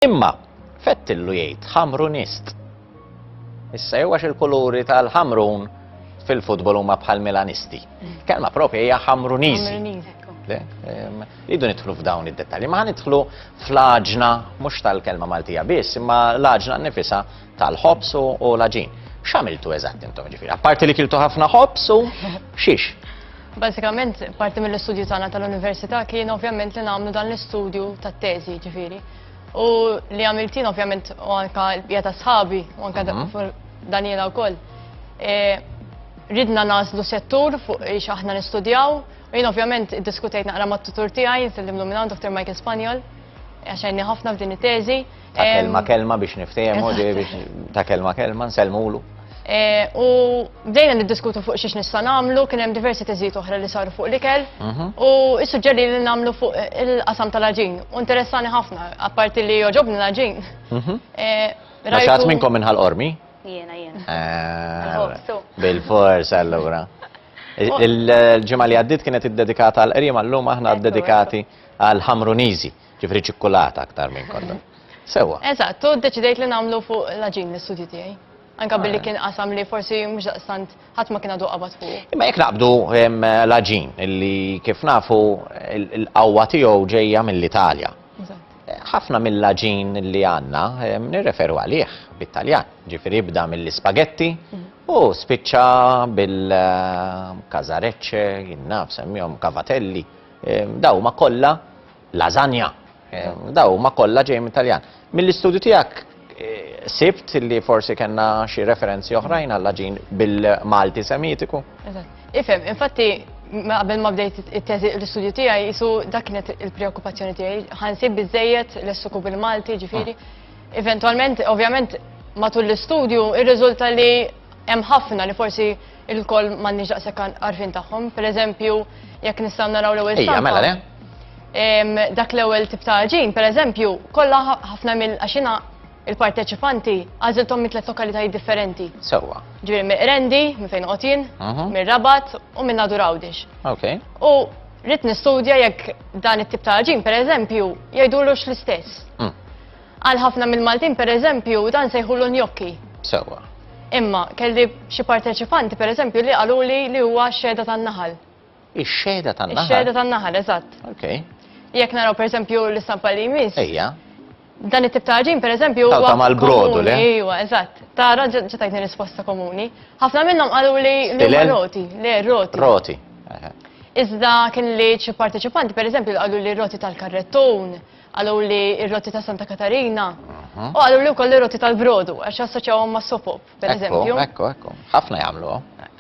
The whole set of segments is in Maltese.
Imma, fettillu jgħid Ħamrunist. Issa jew għax il-kuluri tal-Ħamrun fil-futbol huma bħal Milanisti. Kelma propja hija Ħamruniżi. Idu nidħlu f'dawn id-dettalji, ma nidħlu fl-aġna mhux tal-kelma Maltija biss, imma l-aġna nifisa tal-ħobż u l-aġin. X'għamiltu eżatt intom ġifieri? Apparti li kiltu ħafna ħobż u xiex? Basikament, parti mill-istudju tagħna tal-università kien ovvjament li nagħmlu dan l-istudju tat-teżi ġifieri. U li għamiltin ovvjament u anka l-bija ta' sħabi u anka mhm. Daniela wkoll. E, ridna naslu settur fuq ix aħna nistudjaw u jien ovvjament diskutejt naqra mat-tutur tiegħi, nsellimlu minn Dr. Michael Spanjol, għaxajni ħafna f'din it-teżi. ta' kelma kelma biex niftehmu, biex ta' kelma kelma nsellmulu. Eh, u bdejna niddiskutu fuq xiex nista' nagħmlu, kien hemm diversi teżijiet oħra li saru fuq l-ikel. Mhm. U issuġġeri li nagħmlu fuq il-qasam tal-aġin. U interessani ħafna, apparti li joġobni l-aġin. Mhm. Eh, Raxat minnkom minnħal qormi? Jiena, jiena. Eh, bil-fors allura. Il-ġimgħa li għaddit kienet iddedikata għal qriem għallum aħna dedikati għal ħamruniżi. Ġifri ċikkulata aktar minn kollox. Sewa. Eżatt, u deċidejt li nagħmlu fuq l-aġin l-istudju tiegħi. Anka billi kien qasam li forsi mhux daqstant ħadd ma kien għadu qabad fuq. Imma jekk naqbdu l-aġin li kif nafu l-qawwa tiegħu ġejja mill-Italja. Ħafna mill-aġin li għandna nirreferu għalih bit-Taljan. Ġifieri jibda mill-ispagetti mhm. u spiċċa bil-kazarecce, jinnaf semmihom kavatelli. Daw ma kollha Lasagna. Daw huma kollha ġej minn Taljan. Mill-istudju tiegħek eh, sibt li forsi kellna xi referenzi oħrajn għal ġin bil-Malti Semitiku. Ifhem, infatti qabel ma bdejt it-teżi l-istudju tiegħi jisu dak kienet il-preokkupazzjoni tiegħi. Ħansib biżejjed l-essuku bil-Malti, ġifieri. Ah. Eventualment, ovvjament, matul l-istudju irriżulta li hemm ħafna li forsi il-koll m'għandniex daqshekk għarfien tagħhom. Pereżempju, jekk nistgħu naraw l-ewwel. Ejja, mela le. dak l-ewwel tip ta' ġin, per eżempju, kollha ħafna mill għaxina il-parteċipanti għażilthom minn tliet lokalitajiet differenti. Sewwa. Ġifieri minn Rendi, minn fejn qotin, mhm. minn Rabat u minn Nadur Għawdix. Okay. U rrid nistudja jekk dan it-tip ta' ġin, per eżempju, jgħidulux l-istess. Mm. Għal ħafna mill-Maltin, per eżempju, dan sejħulu njokki. Sewwa. Imma kelli xi parteċipanti, per eżempju, li qaluli li huwa xeda tan-naħal. Ix-xehda tan-naħal? Ix-xehda tan-naħal, eżatt. Okay. Jekk naraw pereżempju l-istampa li jmiss. Ejja. Dan it-tip ta' ġin pereżempju. Tawta mal-brodu le? Ejwa, eżatt. Tara ġetajtni risposta komuni. Ħafna minnhom qalu li huma roti, le roti. Roti. Iżda kien li xi parteċipanti pereżempju qalu li roti tal-karrettun, qalu li r-roti ta' Santa Katarina, mhm. u qalu li wkoll ir-roti tal-brodu għax assoċjawhom ma' sopop. pereżempju. Ekku, ekku, ekku. Ħafna jagħmlu.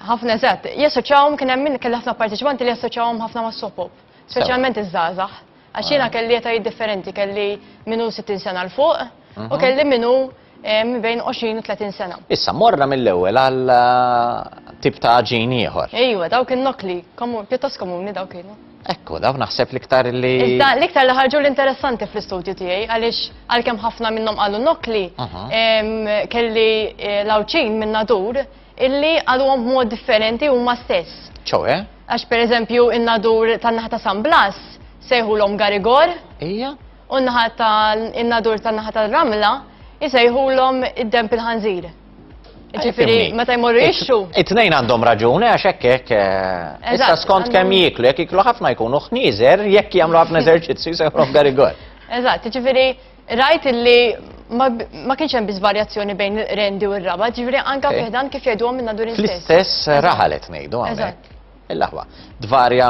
Ħafna eżatt. Jassoċjawhom kien hemm min kelli ħafna parteċipanti li jassoċjawhom ħafna mas-sopop, speċjalment iż-żgħażagħ. Għax jiena ah. kelli etajiet differenti, kelli minnu 60 sena l fuq u mhm. kelli minnu bejn 20 u 30 sena. Issa, morra mill-ewwel għal eh, tip ta' ġin ieħor. Ejwa, dawk in-nokli, pjuttost komuni dawk kienu. Ekku, daw naħseb l-iktar li. Iżda l-iktar li ħarġu l-interessanti fl-istudju tiegħi għaliex għalkemm ħafna minnhom qalu nokli, kelli eh, l-awċin minn nadur illi għaluhom b'mod differenti huma stess. ċoe? Għax per eżempju in-nadur tan-naħa ta' San Blas sejħulhom Garigor. Ija? U n-naħa ta' in-nadur tan-naħa tal-Ramla jisejħulhom id-demp il-ħanżir. Ġifiri, meta jmorru jixxu. It-tnejn għandhom raġuni għax hekk hekk. Eh, issa skont kemm jiklu, jekk jiklu ħafna jkunu ħnieżer, jekk jagħmlu ħafna eżerċizzju jsejħulhom garigol. Eżatt, ġifiri, rajt illi ma kienx hemm biss varjazzjoni bejn rendi u r-raba, ġifiri anka eh. fiħdan kif jgħidu minn nadur istess. L-istess raħalet ngħidu hawnhekk. Il-laħwa, dvarja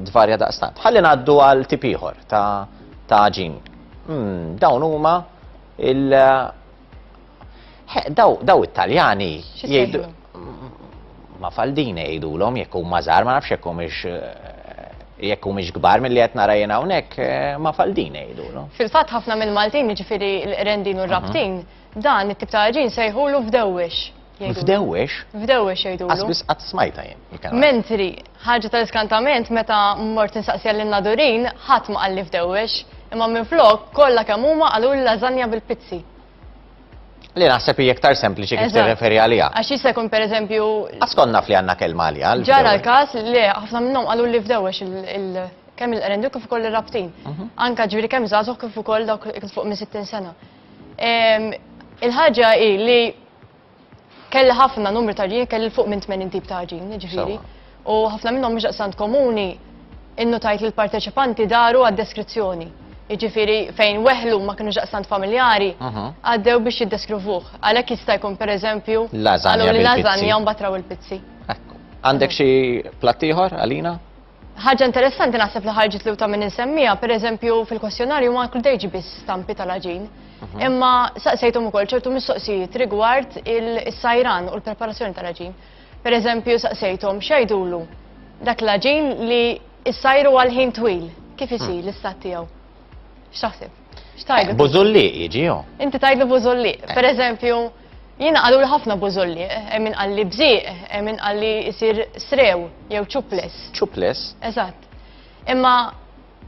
dvarja daqstant. Ħalli ngħaddu għal tip ieħor ta' ġin. Hmm, dawn huma il- He, daw, daw it-Taljani jgħidu. Ma faldin jgħidulhom jekk huma żgħar, ma nafx jekk humiex eh, jekk humiex kbar milli qed nara jien hawnhekk eh, ma faldin jgħidulhom. Fil-fatt ħafna mill-Maltin jiġifieri l-rendin u r-rabtin, mhm. dan it-tip ta' ġin sejħulu f'dewwix. F'dewwix? F'dewwix jgħidulu. Qasbis qatt smajta jien. Mentri ħaġa tal-iskantament meta mort insaqsija lin nadurin ħadd ma qalli f'dewwix, imma minflok kollha kemm huma qalul lażanja bil-pizzi. Li naħseb hi iktar sempliċi kif tirreferi għaliha. Għax jista' jkun pereżempju. Askonna fli għandna kelma għaliha. Ġara l-każ li ħafna minnhom qalu li fdewwex il kemm il-qrendu kif ukoll ir-rabtin. Mhm. Anka ġifieri kemm żagħżugħ kif ukoll dawk fuq minn 60 sena. Il-ħaġa hi li Kelli ħafna numri ta' ġin, kelli fuq minn 80 tip ta' ġin, ġifiri. U ħafna minnhom mhux daqsant komuni, innutajt li l-parteċipanti daru għad-deskrizzjoni. Ġifiri, fejn weħlu ma kienu daqsant familjari, għaddew biex jiddeskrivuh. Għalhekk jista' jkun pereżempju, għalhom li lażanja mbagħad raw il-pizzi. Għandek xi platt ieħor għalina? Ħaġa interessanti naħseb li ħarġet li ta' minn insemmija, per eżempju fil-kwestjonarju ma kludejġi biss stampi tal-aġin. Mhm. Imma saqsejthom ukoll ċertu mistoqsijiet rigward il-sajran u l-preparazzjoni tal-aġin. Per eżempju saqsejthom xajdulu dak l-aġin li s-sajru għal-ħin twil, kif mhm. isir l-istat tiegħu. X'taħseb? X'tajdlu? Bużulli jiġi Inti tajdlu bużulli. Eh. Per eżempju, Jiena qaluli ħafna bużolli, hemm min qalli bżieq, hemm min qalli jsir srew jew ċuples. Ċuples? Eżatt. Imma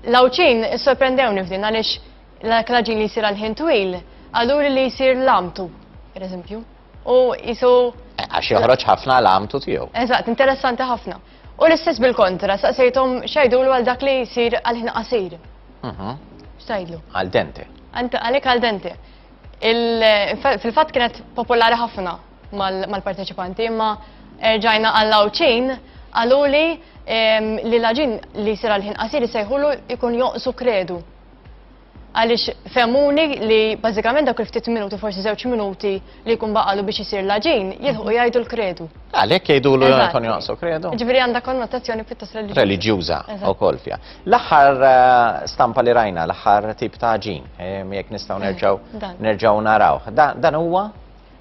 l-Għawdxin issorprendewni f'din għaliex l-klaġin li jsir għal-ħin twil qaluli li jsir lamtu, pereżempju. U jisu. Eh, għax joħroġ ħafna lamtu tiegħu. Eżatt, interessanti ħafna. U l-istess bil-kontra, saqsejthom xajdulu għal dak li jsir għal-ħin qasir. Mhm. Xtajdlu? Għal dente. Għalek għal dente. Fil-fatt kienet popolari ħafna mal-parteċipanti, imma erġajna għall-għawċin għaluli li laġin li sira l-ħin qasir sejħulu ikun joqsu kredu. Għalix femmuni li bazzikament dak il-ftit minuti, forsi zewċ minuti li jkun baqalu biex jisir laġin, jilħu mhm. jgħidu l-kredu. Għalek jgħidu l-għan joqsu kredu? Ġviri għanda konnotazzjoni pjuttost religjuza. Religjuza, u kolfja. L-aħħar stampa li rajna, l-aħħar tip ta' ġin, jekk nistgħu nerġgħu nerġgħu narawh. Dan huwa?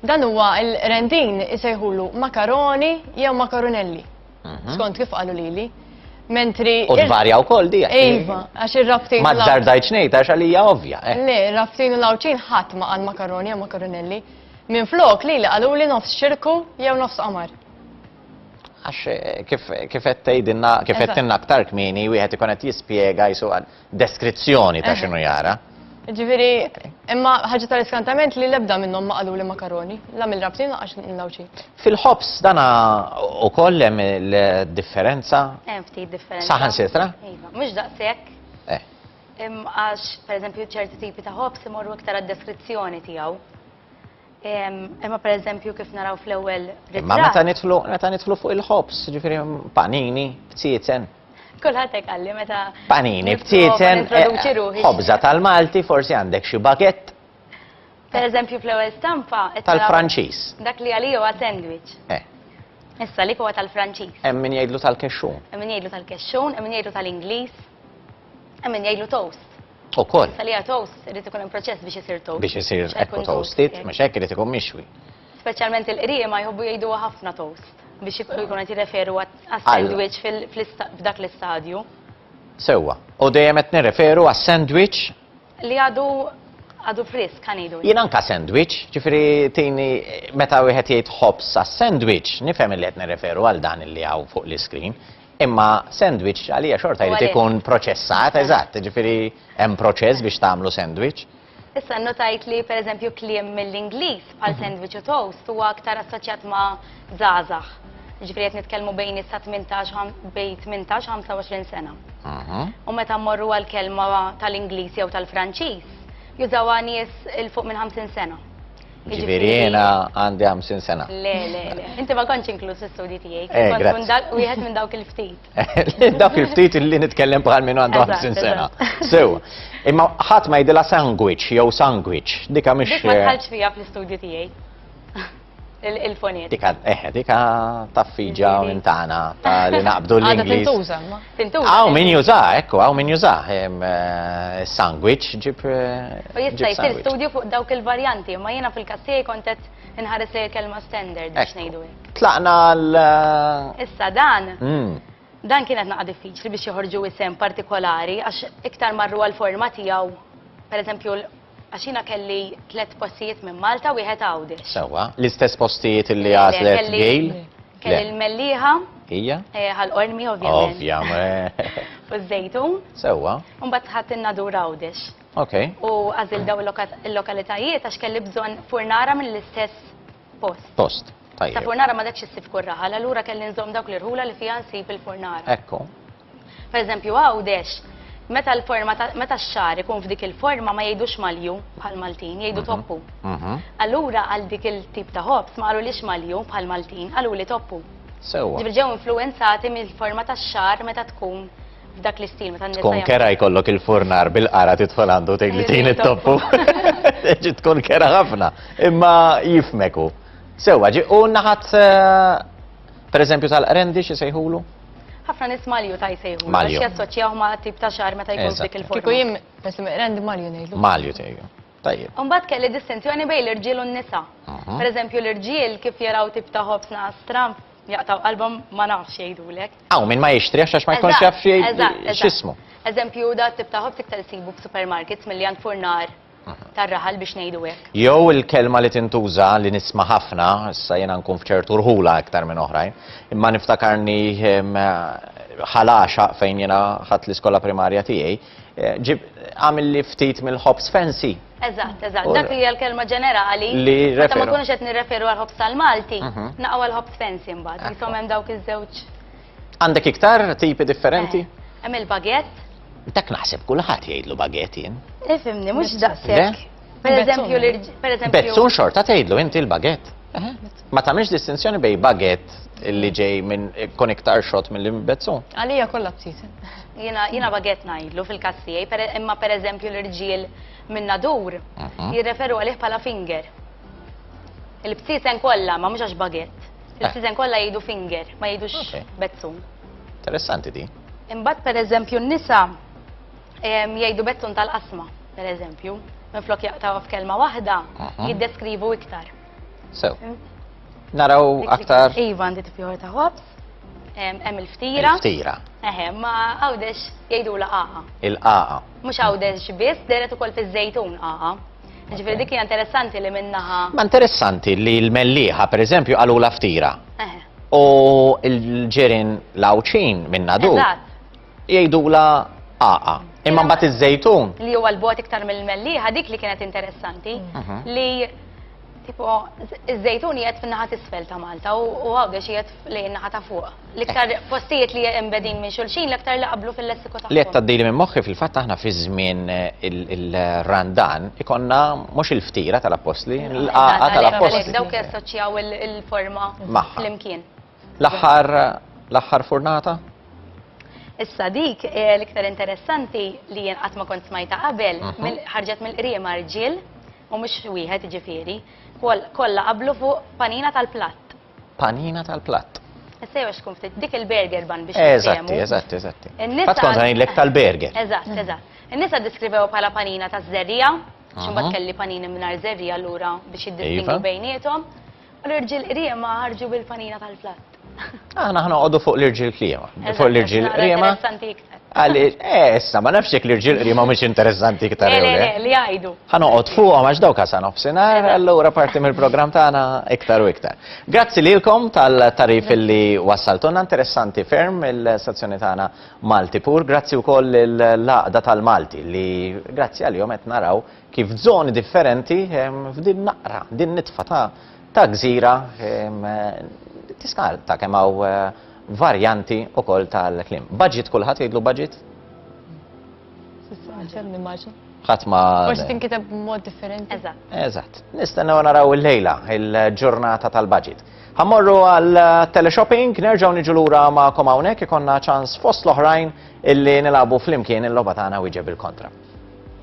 Dan huwa il-rendin isejħulu makaroni jew makaronelli. Mhm. Skont kif qalu lili. Mentri. U tvarja wkoll di. Iva, għax ir-rabtin. Ma tdardajt xnejt għax għalija ovvja. Eh. Le, rabtin u lawċin ħadd ma għal makaroni jew makaronelli. Minn flok li li qalu li nofs xirku jew nofs qamar. Għax kif kif qed tgħidilna kif Eżatt. għedtilna aktar kmieni wieħed ikun qed jispjega jisu għal deskrizzjoni ta' Eħe. x'inhu jara. Ġifieri, imma ħaġa tal-iskantament li l-ebda minnhom ma qaluli makaroni, la mill-rabtin lanqas mill-Għawdxi. Fil-ħobż dana ukoll hemm il-differenza Hemm ftit differenza. saħansitra? Iva, mhux daqshekk. Eh. Im- Għax, pereżempju, ċerti tipi ta' ħobż imorru iktar għad-deskrizzjoni tiegħu. Imma pereżempju kif naraw fl-ewwel ritratt. Imma meta nidħlu meta nidħlu fuq il-ħobs, ġifieri panini, btieten. Kulħadd hekk qalli meta. Panini, btieten. Eh, ħobża tal-Malti, forsi għandek xi bagett. Pereżempju fl-ewwel stampa. Tal-Franċiż. Dak li għalija huwa sandwich. Eh. Issa li huwa tal-Franċiż. Hemm min jgħidlu tal-kexxun. Hemm min jgħidlu tal-kexxun, hemm min jgħidlu tal-Ingliż. Għemmin jgħidlu toast. U koll. Salija toast, rrit ikun proċess biex jisir toast. Biex jisir ekku toastit, mux ekk rrit ikun mixwi. Specialment il-qrija ma jħobbu jgħidu ħafna toast biex jkun għati referu għas-sandwich f'dak l-istadju. Sewa, u dejjem qed nirreferu għas-sandwich Li għadu għadu frisk ħanidu. Jien anka sandwich, ġifieri tini meta wieħed jgħid ħobs sa sandwich, nifhem li qed nirreferu għal dan li hawn fuq l-iskrin. Imma sandwich għalija xorta jrid ikun proċessat, eżatt, ġifieri hemm proċess biex tagħmlu sandwich. Issa notajt li pereżempju kliem mill-Ingliż bħal sandwich u toast huwa aktar assoċjat ma' żgħażagħ. Ġifieri qed nitkellmu bejn issa 18 bejn 18 25 sena. U meta mmorru għal kelma tal-Ingliż jew tal-Franċiż, jużawha nies il fuq minn 50 sena. Ġifieri jiena għandi 50 sena. Le, le, le. Inti ma kontx inkluż fl-istudji tiegħi. Eh, kont wieħed minn dawk il-ftit. Dak il-ftit li nitkellem bħal minn għandu 50 sena. Sew, imma ħadd ma jidilha sandwich jew sandwich, dika mhix. Dik ma eh, tħallx fija fl-istudju tiegħi. Il-foniet. Dika, eh, dika taffiġa minn tagħna ta' li naqbdu l-Ingliż. Tintuża, ma. Tintuża. Aw min juża, ekku, aw min juża. Eh, sandwich ġib. Eh, u jista' jsir studju fuq dawk il-varjanti, ma jiena fil-kassier kontet inħares li l-kelma standard biex ngħidu. Tlaqna għal. Eh, Issa dan. Hmm. Dan kienet naqa diffiċli biex joħorġu isem partikolari, għax iktar marru għal-forma tijaw, per eżempju, għaxina kelli tlet postijiet minn Malta u jħet għawdi. Sewa, l-istess postijiet li għazlet għil? Kelli l-melliħa. Ija? Eh, Għal-ormi, ovvijament. Ovvijament. U z-zejtun. Sewa. Umbat ħat il-nadur għawdix. Ok. U għazil daw il-lokalitajiet għax kelli bżon furnara mill-istess Post. Post. Tajjeb. Sa furnara ma detx issib kull raħal, allura kelli nżomm dawk l-irħula li fiha nsib il-furnara. Ekku. Per eżempju, Għawdex, meta l-forma meta x-xagħar ikun f'dik il-forma ma jgħidux malju bħall-Maltin, jgħidu mhm. toppu. Mhm. Allura għal dik il-tip ta' ħobs ma qalulix malju bħall-Maltin, qaluli toppu. Sewwa. Ġifieri ġew influwenzati mill-forma tax-xagħar meta tkun f'dak l-istil meta n-nisa. Tkun kera jkollok il-furnar bil-qara tidħol għandu tgħid li tgħin it-toppu. Ġi tkun kera ħafna, imma jifmeku. Sewa, ġi u naħat eh, per eżempju tal-qrendi xi sejħulu? ħafna nis malju ta' jisejħu. Malju. Għax jassoċjaw ma' tip ta' xar meta jkun dik il-forma. Kiku jim, pesimek, rendi malju nejdu. Malju tejju. Tajjeb. Imbagħad kelli distinzjoni bejn l-irġiel u n-nisa. Per eżempju l-irġiel kif jaraw tip ta' ħobż naqas tram jaqtgħu qalbhom ma nafx jgħidulek. Hawn min ma jixtrihx għax ma jkunx jaf x'ismu. Eżempju da t-tip ta' ħobż iktar issibu f'supermarkets milli għand furnar tar-raħal biex ngħidu hekk. Jew il-kelma li tintuża li nisma' ħafna, issa jiena nkun f'ċertu rħula iktar minn oħrajn, imma niftakarni ħal għaxaq fejn jiena ħadt l-iskola primarja tiegħi, Ġib għamil li ftit mill-ħobs fancy. Eżatt, eżatt, dak li għal-kelma ġenerali. Li referu. Ma kunux qed nirreferu għal-ħobs tal-Malti, mhm. naqgħu għal-ħobs fancy mbagħad, jisom hemm dawk iż-żewġ. Għandek iktar tipi differenti? Eh, hemm il-bagett. Dak naħseb kulħadd jgħidlu bagett jien. Ifimni, mhux daqshekk. Per eżempju, per eżempju. Bezzun xorta tgħidlu inti l-bagett. Ma tagħmilx distinzjoni bej bagett li ġej minn kun iktar xot mill bezzun. Għalija kollha btit. Jiena bagett ngħidlu fil-każ tiegħi, imma per eżempju l-irġiel minn nadur mhm. jirreferu għalih bħala finger. Il-btisen kollha ma mhux għax bagett. Eh. Il-btisen kollha jgħidu finger, ma jgħidux bezzun. Interessanti di. Imbagħad per eżempju n-nisa Jgħidu bettun tal-qasma, per eżempju, minn flok jaqtaw f'kelma waħda, jiddeskrivu iktar. Sew. Naraw aktar. Iva għandi tipjor ta' ħobs, hemm il-ftira. Il-ftira. Eħe, ma għawdex jgħidu la qaqa. Il-qaqa. Mhux għawdex biss, deret ukoll fiż-żejtun qaqa. Ġifieri dik hija interessanti li minnaħa. Ma interessanti li l-melliħa, pereżempju, għalu la ftira. U l-ġerin lawċin minna du. Jgħidula għaqa. Imma mbagħad iż-żejtun. Li huwa l-bot iktar mill-mellieħa dik li kienet interessanti mhm. li tipo iż-żejtun qiegħed fin-naħa t'isfel ta' Malta u għawdex qiegħed lejn naħa ta' fuq. L-iktar eh. postijiet li embedin minn xulxin l-iktar li qablu fil-lessiku ta' Li qed tgħaddili minn moħħi fil-fatt aħna fi żmien eh, il-randan ikonna mhux il-ftira tal-appostli, l-qaqa tal-appostli. Dawk jassoċjaw il-forma flimkien. L-aħħar l-aħħar furnata? Issa dik eh, l-iktar interessanti li jien qatt ma kont smajta qabel, mhm. ħarġet mill-qriema rġiel u mhux wieħed ġifieri, kollha qablu fuq panina tal-platt. Panina tal-platt. Issa jew xkun ftit dik il-burger ban biex Eżatti, eżatti, eżatti. Fatt kont ngħidlek tal-burger. Eżatt, mhm. eżatt. In-nisa diskrivew bħala panina taż-żerrija, x'imbagħad mhm. kelli panini mingħajr żerrija lura biex jiddistingu iva. bejniethom. U l-irġiel qriema ħarġu bil-panina tal-platt. Aħna ħna għodu fuq l-irġil klima. Fuq l-irġil klima. Interessanti iktar. Għalli, eh, issa, ma nafx jek l-irġil klima mux interessanti iktar. Le, le, eh. li għajdu. Għana għod fuq, għax daw kasan obsinar, għallura parti mill-program tagħna iktar u iktar. Grazzi lilkom tal-tarif li wassaltuna, interessanti ferm il-stazzjoni tagħna Malti Pur, grazzi wkoll l-laqda tal-Malti li grazzi għal-jom qed naraw kif zoni differenti f'din naqra, din nitfa ta' ta' gżira tista' ta' kemm hawn eh, varjanti ukoll tal-klim. Budget kulħadd jgħidlu budget? ħadd ma. Forsi tinkiteb mod differenti. Eżatt. Eżatt. Nistennew naraw il-lejla il-ġurnata tal-budget. Ħammorru għal teleshopping, nerġgħu niġu lura ma' komawnek ikonna ċans fost l-oħrajn illi nilabu flimkien il-logħba tagħna wieġeb il-kontra.